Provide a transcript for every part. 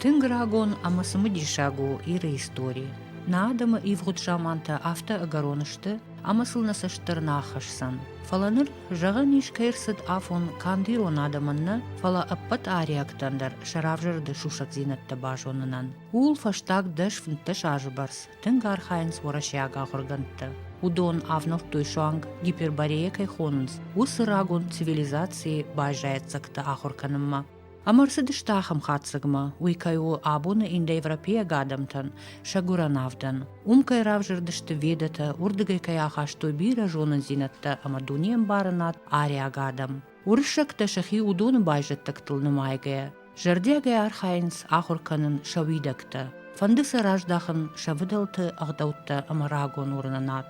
Тынг рагон ӕмӕ цымыдисаг у Иры истори. Нӕ адӕмы ивгъуыд замантӕ афтӕ ӕгӕрон сты, ӕмӕ сыл нӕ цӕст дӕр нӕ ахӕсдзӕн. Фӕлӕ ныр, зӕгъӕн ис, кӕй ӕрцыд афон канд ирон адӕмӕн нӕ, фӕлӕ ӕппӕт ариӕгтӕн дӕр сӕ равзӕрды сусӕгдзинӕдтӕ базонынӕн. Ууыл фӕстаг дӕс фынддӕс азы бӕрц тынг архайынц уӕрӕсейаг ахуыргӕндтӕ. Уыдон ӕвнӕлдтой суанг, гиперборея кӕй хонынц, уыцы рагон цивилизацийы байзайӕццӕгтӕ ахуыр кӕнынмӕ. Ӕмӕ ӕрцыдысты ахӕм хатдзӕгмӕ, уый кӕй у абоны индоевропейаг адӕмтӕн сӕ гуырӕн авдӕн. Уым кӕй равзӕрдысты ведӕтӕ, уырдыгӕй кӕй ахастой бирӕ зонындзинӕдтӕ ӕмӕ дунеӕмбарынад ариаг адӕм. Уырыссӕгтӕ сӕхи уыдоны байзӕддӕгтыл нымайгӕ, зӕрдиагӕй архайынц ахуыр кӕнын сӕ уидӕгтӕ, фӕнды сӕ раздахын сӕ фыдӕлты ӕгъдӕуттӕ ӕмӕ рагон уырнынад.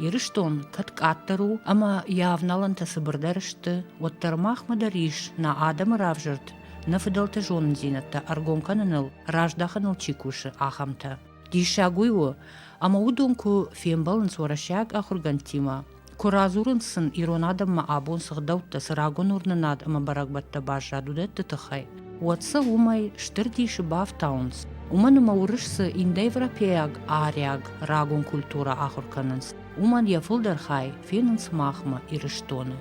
Ирыстон кӕд къаддӕр у ӕмӕ йӕ авналӕнтӕ цыбырдӕр сты, уӕддӕр махмӕ дӕр ис, нӕ адӕмы равзӕрд, нӕ фыдӕлты зонындзинӕдтӕ ӕргом кӕныныл, раздахыныл чи кусы, ахӕмтӕ. Диссаг уый у, ӕмӕ уыдон куы фембӕлынц уӕрӕсейаг ахуыргӕндтимӕ, Куы радзурынц сын ирон адӕммӕ абон цы гъдӕуттӕ, цы рагон уырнынад ӕмӕ бӕрӕгбӕттӕ баззад, уыдӕтты тыххӕй, уӕд сӕ уымӕй стыр дисы бафтауынц. Уымӕн ӕмӕ уырыс цы индоевропейаг ариаг рагон культурӕ ахуыр кӕнынц, уымӕн йӕ фылдӕр хай фенынц махмӕ, Ирыстоны.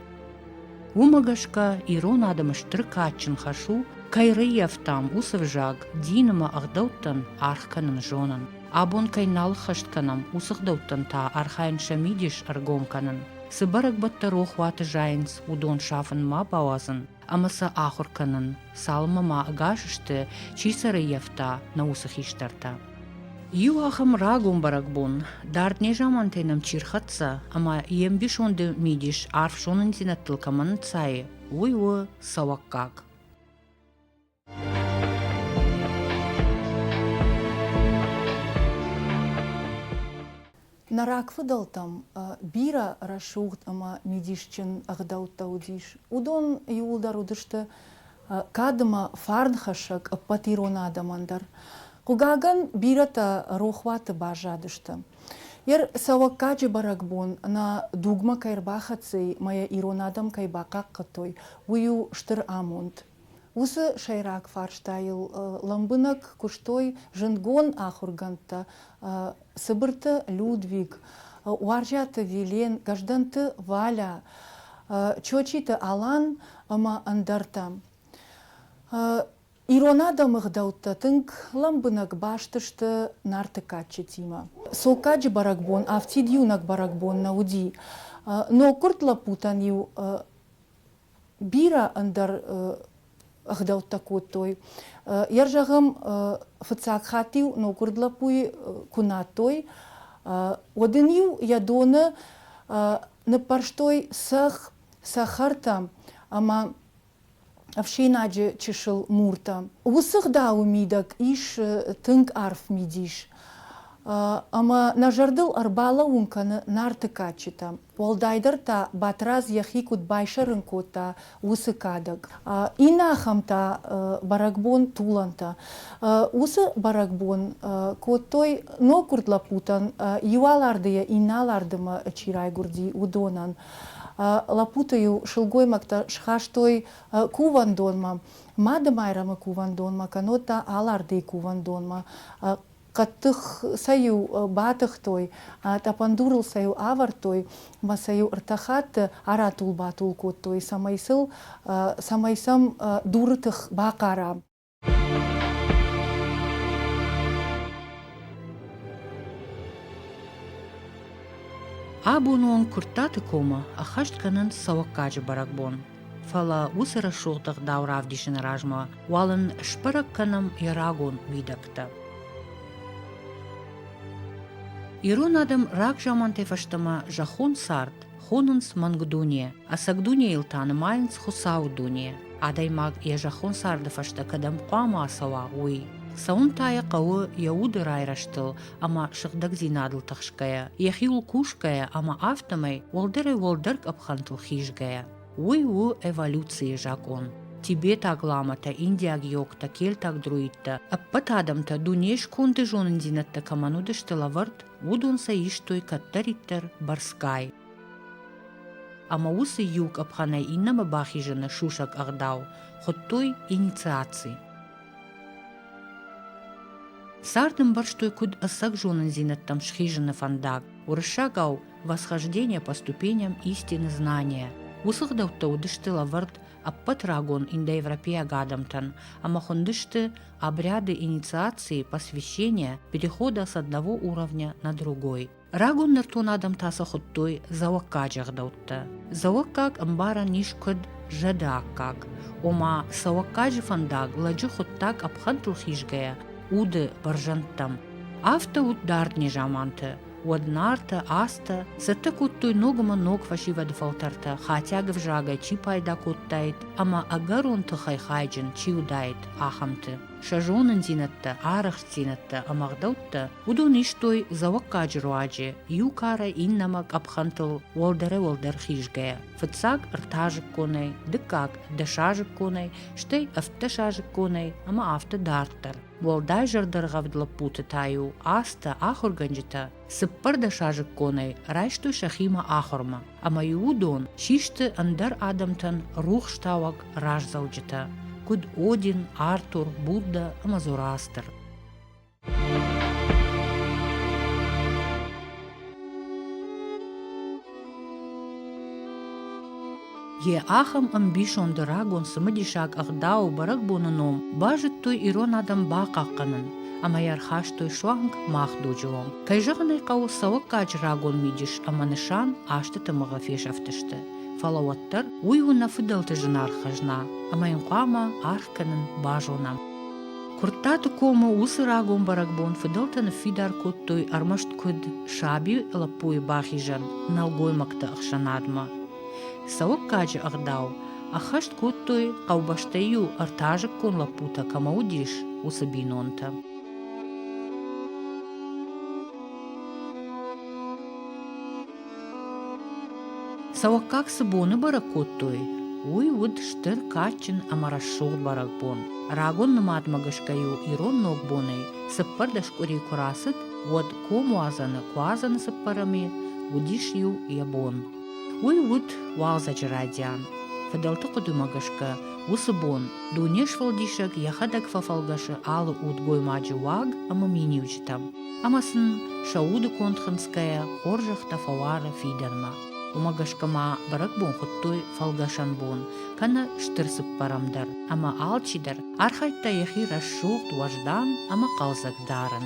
Уымӕ гӕсгӕ ирон адӕмы стыр кадджын хӕс у, кӕй рӕййӕфтам уыцы взаг дин ӕмӕ ӕгъдӕуттӕн аргъ кӕнын зонын. Абон кӕй нал ӕххӕст кӕнӕм, уыцы гъдӕуттӕн та архайын сӕ мидис ӕргом кӕнын. Цы бӕрӕгбӕттӕ рохуаты зайынц, уыдон сафын ма бауадзын ӕмӕ сӕ ахуыр кӕнын, цалынмӕ ма ӕгас сты, чи сӕ рыййӕфта, нӕ уыцы хистӕртӕ. Иу ахӕм рагон бӕрӕгбон, дард незамантӕй нӕм чи рхӕццӕ ӕмӕ йе мбисонды мидис арф зонындзинӕдтыл кӕмӕн ӕнцайы, уый у цӕуӕггаг. Нӕ рагфыдӕлтӕм бирӕ рӕсугъд ӕмӕ мидисджын ӕгъдӕуттӕ уыдис. Уыдон иууылдӕр уыдысты кадмӕ фарнхӕссӕг ӕппӕт ирон адӕмӕн дӕр. Хъугагӕн, бирӕтӕ рохуаты баззадысты. Йе рцӕуӕггаджы бӕрӕгбон нӕ дугмӕ кӕй ӕрбахӕццӕ и мӕ йӕ ирон адӕм кӕй бахъахъхъӕдтой, уый у стыр амонд. Уыцы сӕйраг фарстайыл лӕмбынӕг куыстой зындгон ахуыргӕндтӕ Цыбырты Людвиг, Уарзӕты Вилен, Гӕздӕнты Валя, Чочиты Алан ӕмӕ ӕндӕртӕ. Ирон адӕмы гъдӕуттӕ тынг лӕмбынӕг баст сты Нарты кадджытимӕ. Соккаджы бӕрӕгбон афтид иунӕг бӕрӕгбон нӕ уыди. Ноггуырд лӕппутӕн-иу бирӕ ӕндӕр ӕгъдӕуттӕ кодтой. Йӕ зӕгъӕм, фыццаг хатт-иу ноггуырд лӕппуйы куы надтой, уӕд ын-иу йӕ доны ныппӕрстой цӕхх цӕхӕртӕм ӕмӕ ӕфсинаджы чысыл муртӕм. Уыцы гъдауы мидӕг ис тынг арф мидис, ӕмӕ нӕ зӕрдыл ӕрбалӕууын кӕны Нарты кадджытӕм. Уӕлдайдӕр та Батырадз йӕхи куыд байсӕрын кодта, уыцы кадӕг. Иннӕ ахӕмтӕ, бӕрӕгбон Тулантӕ. Уыцы бӕрӕгбон кодтой, ноггуырд лӕппутӕн иу алардыйӕ иннӕ алардымӕ чи райгуырди, уыдонӕн. Лӕппуты-иу сылгоймӕгтӕ схастой кувӕндонмӕ, Мады-Майрӕмы кувӕндонмӕ кӕннод та Алардыйы кувӕндонмӕ Хъӕддых сӕ-иу батыхтой, тъӕпӕн дурыл сӕ-иу авӕрдтой мӕ сӕ-иу ӕртӕ хатты аратул-батул кодтой, цӕмӕй сыл, цӕмӕй сӕм дуры тых бахъара. Абон уон Куырттаты комы ӕххӕст кӕнын цӕуӕггаджы бӕрӕгбон. Фӕлӕ уыцы рӕсугъд ӕгъдау равдисыны размӕ уал ын сбӕрӕг кӕнӕм йӕ рагон уидӕгтӕ. Ирон адӕм рагзамантӕй фӕстӕмӕ зӕххон цард хонынц мӕнгдуне, ӕцӕг дунейыл та нымайынц Хуыцауы дуне. Адӕймаг йӕ зӕххон царды фӕстӕ кӕдӕм хъуамӕ ацӕуа, уый. Цӕуын та йӕ хъӕуы йӕ уды райрӕзтыл, ӕмӕ сыгъдӕгдзинадыл тыхсгӕйӕ, йӕхиуыл кусгӕйӕ ӕмӕ афтӕмӕй уӕлдӕрӕй-уӕлдӕр къӕпхӕнтыл хизгӕйӕ. Уый у эволюцийы закъон. Тибетаг ламӕтӕ, индиаг йогтӕ, кельтаг друидтӕ, ӕппӕт адӕмтӕ дуне сконды зонындзинӕдтӕ кӕмӕн уыдысты лӕвӕрд, уыдон сӕ истой кӕддӕриддӕр бӕрцгай. Ӕмӕ уыцы иу къӕпхӕнӕй иннӕмӕ бахизыны сусӕг ӕгъдау хуыдтой инициаци. Цард ӕмбӕрстой куыд ӕцӕг зонындзинӕдтӕм схизыны фӕндаг, уырыссагау «восхождение по ступеням истины знания». Уыцы гъдӕуттӕ уыдысты лӕвӕрд ӕппӕт рагон индоевропейаг адӕмтӕн ӕмӕ хуындысты обряды инициации, посвящения, перехода с одного уровня на другой. Рагон нӕртон адӕм та сӕ хуыдтой дзӕуӕггаджы ӕгъдӕуттӕ. Дзӕуӕггаг ӕмбарӕн ис куыд зӕды аккаг, ома цӕуӕггаджы фӕндаг лӕджы хуыддаг къӕпхӕнтыл хизгӕйӕ уды бӕрзӕндтӕм. Афтӕ уыд дард незаманты, уӕд нартӕ, астӕ цӕттӕ кодтой ногмӕ ног фӕсивӕды фӕлтӕртӕ хатиаг ӕвзагӕй чи пайда кодтаид ӕмӕ ӕгӕрон тыхӕй хайджын чи уыдаид, ахӕмты. сӕ зонындзинӕдтӕ, арӕхстдзинӕдтӕ ӕмӕ ӕгъдӕуттӕ, уыдон истой дзӕуӕггаджы руаджы, иу кары иннӕмӕ къӕпхӕнтыл уӕлдӕрӕй-уӕлдӕр хизгӕйӕ, фыццаг ӕртӕазыкконӕй, дыккаг дӕсазыкконӕй, стӕй ӕвддӕсазыкконӕй ӕмӕ афтӕ дарддӕр. Уӕлдай зӕрдӕргъӕвд лӕппуты та-иу азтӕ ахуыргӕнджытӕ Цыппӕрдӕсазыкконӕй райстой сӕхимӕ ахуырмӕ, ӕмӕ-иу уыдон систы ӕндӕр адӕмтӕн рухстауӕг раздзӕуджытӕ, куыд Один, Артур, Будда ӕмӕ Зороастр. Йӕ ахӕм ӕмбисонды рагон цымыдисаг ӕгъдау бӕрӕгбоны ном базыдтой ирон адӕм бахъахъхъӕнын ӕмӕ йӕ ӕрхастой суанг мах дуджы онг. Кӕй зӕгъын ӕй хъӕуы, цӕуӕггаджы рагон мидис ӕмӕ нысан азты тымыгъы фесӕфтысты. Фӕлӕ уӕддӕр уый у нӕ фыдӕлты зынаргъ хӕзна, ӕмӕ йын хъуамӕ аргъ кӕнын базонӕм. Куырттаты комы уыцы рагон бӕрӕгбон фыдӕлтӕ ныффидар кодтой ӕрмӕст куыд саби лӕппуйы бахизӕн нӕлгоймӕгты ӕхсӕнадмӕ, Цӕуггаджы ӕгъдау ӕххӕст кодтой хъӕубӕстӕй-иу ӕртӕазыккон лӕппутӕ кӕмӕ уыдис, уыцы бинонтӕ. Цӕуӕггаг цы боны бӕрӕг кодтой, уый уыд стыр кадджын ӕмӕ рӕсугъд бӕрӕгбон. Рагон нымадмӕ гӕсгӕ-иу ирон ногбонӕй цыппӕрдӕс къуыри куы рацыд, уӕд комуадзӕны куадзӕны цыппӕрӕмы уыдис-иу йӕ бон. Уый уыд уалдзӕджы радиан. Фыдӕлты хъуыдымӕ гӕсгӕ, уыцы бон дуне сфӕлдисӕг йӕхӕдӕг фӕфӕлгӕсы алы удгоймаджы уаг ӕмӕ миниуджытӕм. Ӕмӕ сын сӕ уды конд хынцгӕйӕ хорзӕхтӕ фӕуары фидӕнмӕ. Уымӕ гӕсгӕ ма бӕрӕгбон хуыдтой фӕлгӕсӕн бон, кӕнӕ стыр цыппӕрӕм дӕр, ӕмӕ алчидӕр архайдта йӕхи рӕсугъд, уӕздан ӕмӕ хъӕлдзӕг дарын.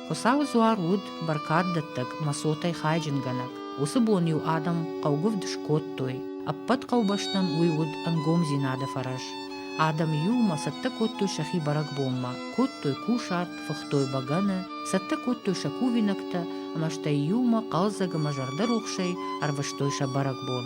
Хуыцауы дзуар уыд бӕркаддӕттӕг мӕ цотӕй хайджынгӕнӕг. Уыцы бон-иу адӕм хъӕугуывд скодтой. Ӕппӕт хъӕубӕстӕн уый уыд ӕнгомдзинады фӕрӕз. Адӕм иумӕ цӕттӕ кодтой сӕхи бӕрӕгбонмӕ, кодтой кусарт, фыхтой бӕгӕны, цӕттӕ кодтой сӕ кувинӕгтӕ ӕмӕ стӕй иумӕ хъӕлдзӕг ӕмӕ зӕрдӕрухсӕй ӕрвыстой сӕ бӕрӕгбон.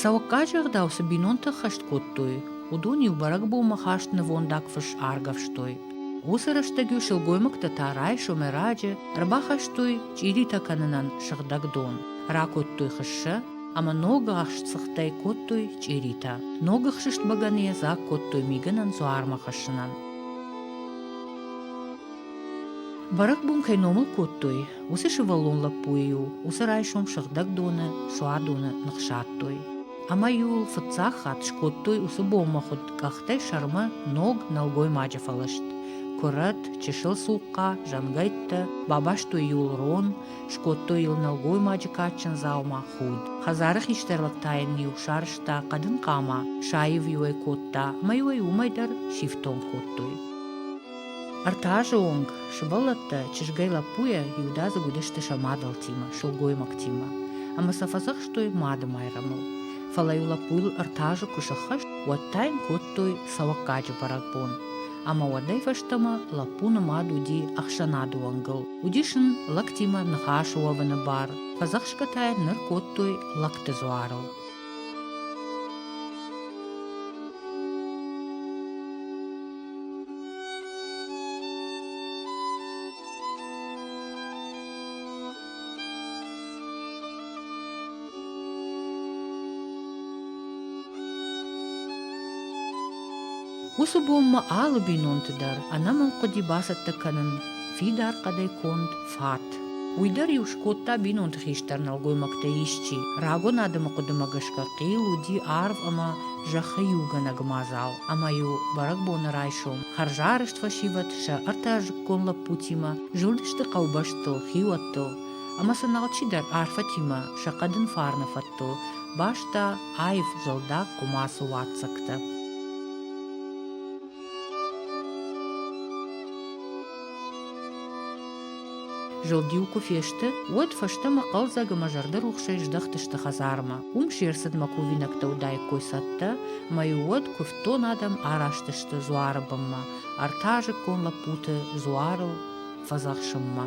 Цӕуӕггаджы ӕгъдау цы бинонтӕ ӕххӕст кодтой, уыдон-иу бӕрӕгбонмӕ хаст нывондаг фыс аргӕвстой. Уыцы рӕстӕг-иу сылгоймӕгтӕ та райсомӕй раджы ӕрбахастой чъиритӕ кӕнынӕн сыгъдӕг дон, ракодтой хыссӕ ӕмӕ ног ӕхсtsыгъдтӕй кодтой чъиритӕ. Ног ӕхсыст бӕгӕныйӕ дзаг кодтой мигӕнӕн дзуармӕ хӕссынӕн. Бӕрӕгбон кӕй номыл кодтой, уыцы сывӕллон лӕппуйы-иу уыцы райсом сыгъдӕгдоны, суадоны ныхсадтой. Ӕмӕ-иу ыл фыццаг хатт скодтой уыцы боммӕхуыд къӕхтӕй сӕрмӕ ног нӕлгоймаджы фӕлыст. Куырӕт, чысыл цухъхъа, зӕнгӕйттӕ, бабастой-иу ыл рон, скодтой ыл нӕлгоймаджы кадджын дзаума худ. Хӕдзары хистӕрвӕг та йын-иу сарызта хъӕдын хъама, саив-иу ӕй кодта, ӕмӕ-иу ӕй уымӕй дӕр сифтонг кодтой. Ӕртӕ азы онг сывӕллӕттӕ чызгӕй лӕппуйӕ иудадзыг уыдысты сӕ мадӕлтимӕ, сылгоймӕгтимӕ, ӕмӕ сӕ фӕдзӕхстой мады майрӕмыл. Фӕлӕ-иу лӕппуйыл ӕртӕ азы куы сӕххӕст, уӕд та йын кодтой цӕуӕггаджы бӕрӕгбон. Ӕмӕ уӕдӕй фӕстӕмӕ лӕппуны мад уыди ӕхсӕнады уӕнгыл. Уыдис ын лӕгтимӕ ныхас уӕвыны бар. Фӕдзӕхсгӕ та йын ныр кодтой лӕгты дзуарыл. Уыцы бонмӕ алы бинонты дӕр ӕнӕмӕнг хъуыди бацӕттӕ кӕнын фидар хъӕдӕй конд фат. Уый дӕр-иу скодта бинонты хистӕр нӕлгоймӕгтӕй исчи. Рагон адӕмы хъуыдымӕ гӕсгӕ хъил уыди арв ӕмӕ зӕххы иугӕнӕг мадзал, ӕмӕ-иу бӕрӕгбоны райсом хӕрзарӕзт фӕсивӕд сӕ ӕртӕазыккон лӕппутимӕ зылдысты хъӕубӕстыл, хиуӕттыл ӕмӕ сын алчидӕр арфӕтимӕ сӕ хъӕдын фарны фӕдтыл баста аив зӕлдаг хъуымацы уаццӕгтӕ. Зылд-иу куы фесты, уӕд фӕстӕмӕ хъӕлдзӕг ӕмӕ зӕрдӕрухсӕй здӕхтысты хӕдзармӕ. Уым се рцыдмӕ кувинӕгтӕ уыдаиккой цӕттӕ, мӕ-иу уӕд куывддон адӕм араст сты дзуары бынмӕ, ӕртӕазыккон лӕппуты дзуарыл фӕдзӕхсынмӕ.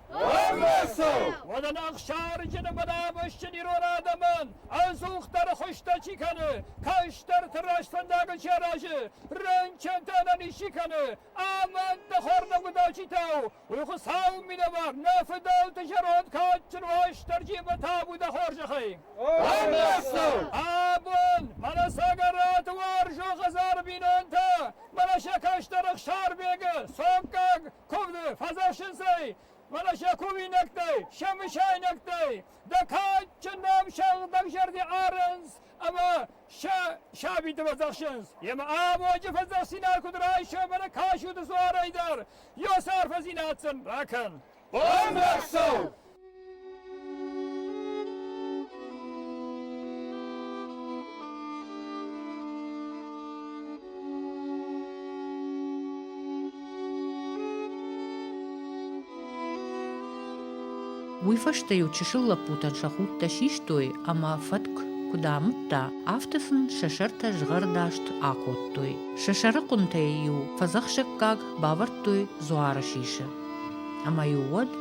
Ӕрбацӕу! Уӕдӕн ӕхсарджыны бынӕвӕзджын ирон адӕмӕн ӕдзухдӕр хуызтӕ чи кӕны, кӕстӕрты раст фӕндагыл чи аразы, рынчынты ӕнӕниз чи кӕны, амӕндты хӕрдӕгудачитау, у Хуыцауы минӕвар, нӕ фыдӕлты зӕронд кадджын Уастырджимӕ табу дӕ хорзӕхӕй! Ӕрбацӕу! Абон мӕнӕ Цӕгӕраты уарзон хӕдзары бинонтӕ, мӕнӕ сӕ кӕстӕр Ӕхсарбегы, цомккаг, ковды фӕзӕсынцӕй, фӕлӕ сӕ кувинӕгтӕй, сӕ мысайнӕгтӕй дӕ кадджындӕр сӕгъдӕг зӕрди арынц ӕмӕ сӕ сабиты фӕдзӕхсынц. Емӕ абоджы фӕдзӕхсинаг куыд райсӕм ӕмӕ кӕсут дзуарӕй дӕр, йӕ сӕр фӕзинатдзӕн. Бакӕн! Бандӕхсӕу! Уый фӕстӕ-иу чысыл лӕппутӕн сӕ худтӕ систой ӕмӕ фӕтк куыд амыдта, афтӕ сын сӕ сӕртӕ згъӕрдаст акодтой. Сӕ сӕрыхъуынтӕй-иу фӕдзӕхсӕггаг бавӕрдтой дзуары сисы. Ӕмӕ-иу уӕд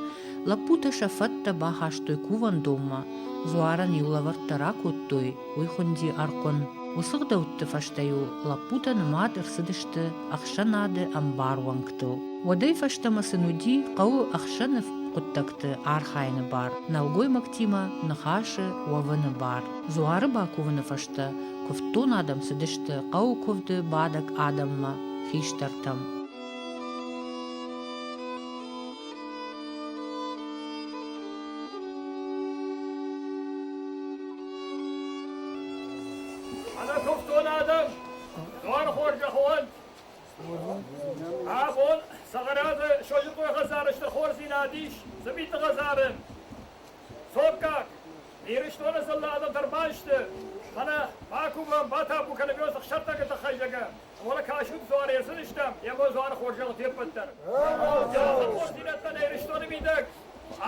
Лӕппутӕ сӕ фӕдтӕ бахастой кувӕндонмӕ, дзуарӕн-иу лӕвӕрттӕ ракодтой, уый хуынди архъуын. Уыцы гъдӕутты фӕстӕ-иу лӕппутӕ нымад ӕрцыдысты ӕхсӕнады ӕмбар уӕнгтыл. Уӕдӕй фӕстӕмӕ сын уыди хъӕуы ӕхсӕны хъуыддӕгты архайыны бар, нӕлгоймӕгтимӕ ныхасы уӕвыны бар. Дзуары бакувыны фӕстӕ куывддон адӕм цыдысты хъӕуы куывды бадӕг адӕммӕ, хистӕртӕм. Ана тухтон адӕм, дуархоргӕ хуӕнт! Абон Сагъаразы Сойынхъой хӕдзарысты хорздзинад ис Цыбиты хӕдзарын. Цоккаг, Ирыстоны дзыллӕ адӕмтӕ ӕрбайсты, мӕнӕ Бакумӕ батабу кӕнӕм ӕхсӕттӕгы тыххӕй зӕгӕм. Уӕле кӕсут дзуар ецыдыстӕм, ема дзуар хорзӕл феппӕт дӕр. Алкахур хъусирӕдтӕ нӕ Иристони мидӕг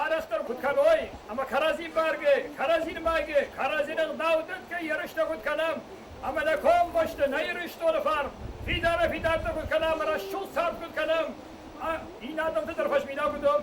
арӕхдӕр куд кӕной, ӕма кӕрӕдзи бӕргӕ, кӕрӕдзи нмайгӕ, кӕрӕдзинӕн гъдӕуттӕ ерыстӕ куд кӕнӕм, ӕма нӕ комбӕсти нӕ Иристони фарн фидарӕ фидӕрттӕ куд кӕнӕм, рӕсугъд цард куд кӕнӕм, ин адӕмтӕ дӕр фӕзминаг удом.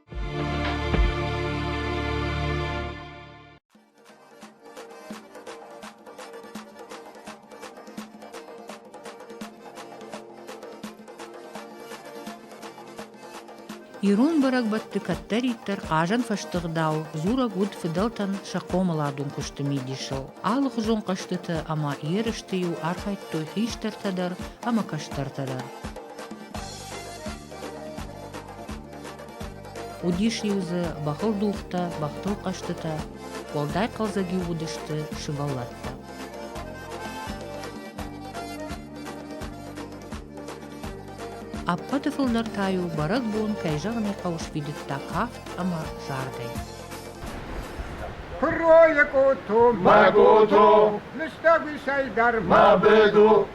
Ирон бӕрӕгбӕтты кӕддӕриддӕр хъазӕнфӕсты гъдау дзурӕг уыд фыдӕлтӕн сӕ хъомыладон куысты мидисыл. Алыхуызон хъӕзтыты ӕмӕ ерысты-иу архайдтой хистӕртӕ дӕр ӕмӕ кӕстӕртӕ дӕр. Уыдис-иу дзы бӕхыл дугътӕ, бӕхтыл хъӕзтытӕ, уӕлдай хъӕлдзӕг-иу уыдысты сывӕллӕттӕ. Ӕппӕты фылдӕр та-иу бӕрӕгбон, кӕй зӕгъын ӕй хъӕуы, сфидыдта кафт ӕмӕ зардӕй. Хуррое кото, ма кото, лыстӕг уисӕй дӕр ма беду,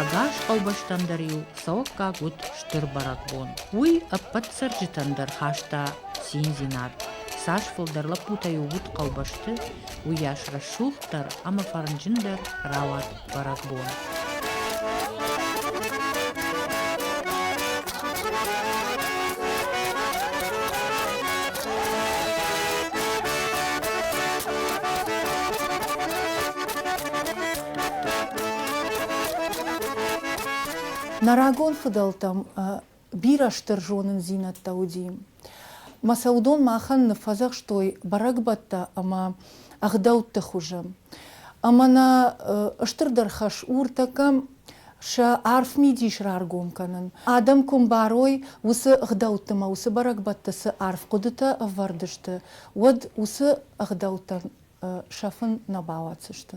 Ӕгас хъӕубӕстӕм дӕр-иу цӕуӕггаг уыд стыр бӕрӕгбон. Уый ӕппӕт цӕрджытӕн дӕр хаста циндзинад. Цас фылдӕр лӕппутӕ-иу уыд хъӕубӕсты, уыйас рӕсугъддӕр ӕмӕ фӕрнджындӕр рауад бӕрӕгбон Нӕ рагон фыдӕлтӕм бирӕ стыр зонындзинӕдтӕ уыди. Мӕ сӕ уыдон махӕн ныффӕдзӕхстой бӕрӕгбӕттӕ ӕмӕ ӕгъдӕутты хуызы. Ӕмӕ нӕ стырдӕр хӕс у ртӕккӕ сӕ арф мидис раргом кӕнын. Адӕм куы мбарой, уыцы ӕгъдӕутты ӕмӕ уыцы бӕрӕгбӕтты цы арф хъуыдытӕ ӕвӕрд сты, уӕд уыцы ӕгъдӕуттӕн сӕфын нӕ бауадздзысты.